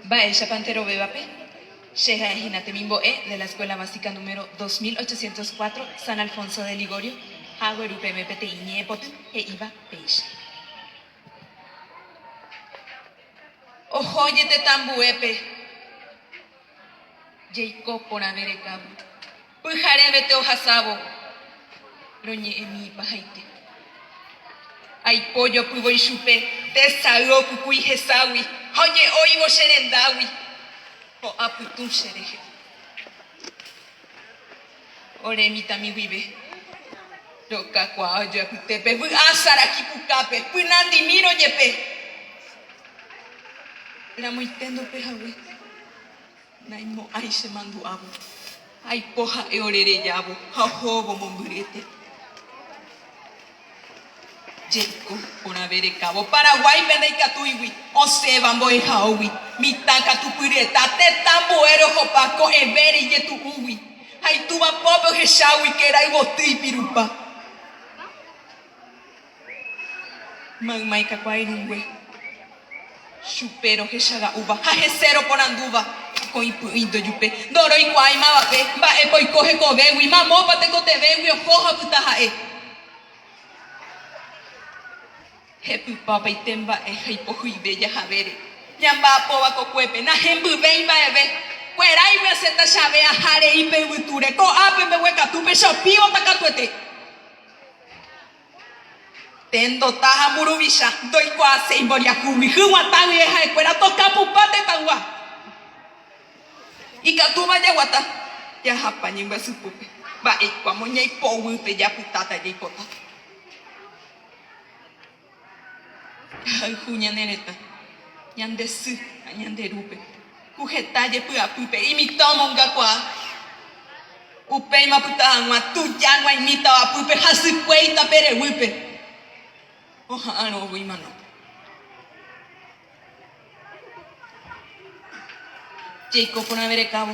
Mba'éichapa nte rovévape? Che ha'e hína temimbo'e de la Escuela Básica número 2804 San Alfonso de Ligorio ha agueru peẽme peteĩ ñe'ẽpoty he'íva péicha. Oho jetetãmbuépe jeiko porãve rekávo. Pyharevete ohasávo roñe'ẽmi ipahaite. Aipo jopývoi chupe tesay okukui heságui ha oje'óivo che rendágui, ho'a pytũ che rehe. Ore mitãmi guive rokakuaa ojoapyte pe vy'a saraki pukápe pynandimírõ jepe ramoiténdope hague. Naimo'ãi che mandu'ávo. Aipo ha'e ore rejávo ha ohóvo mombyryete. Jeiko porãve rekávo Paraguáipe ndaikatúigui osẽva mbo'ehaógui. Mitã katu pyryeta tetã mbo'e rohopa ko'ẽvére ijetu'úgui ha itúva pópe ohechágui kerayvoty ipirupa. Mayma ikakuaa irũngue chupe rohecha ra'úva ha hese roporandúva koĩ py'ỹi ndojupe. Ndoroikuaái mavape mba'épa oiko hekovégui, mamópa tekotevégui oho ha opyta ha'e. Hepypa opaite mba'e ha ipohyve jahavére. Ñamba'apóva kokuépe, nahembyvéi mba'eve. Kueráigui asẽta che ave aha rei pe yvytúre, ko'ápe mbeguekatúpe che opívota katuete. Tendota ha mburuvicha ndoikuaaséi mboriahúgui, hyg̃ua taýe ha'ekuéra toka pupa tetãygua. Ikatúva jaguata jahapa ñembyasy pópe, mba'éiko amo ñaipoguýpe japytáta jaipotáta. Jahayhu ñane retã, ñande sy ha ñande rúpe. Ku heta jepy'apýpe imitã omongakuaa, upéima opyta hag̃ua tuja g̃uaimi tavapýpe ha sykue itapereguýpe oha'arõ oguy manópe. Jeiko porãverekávo.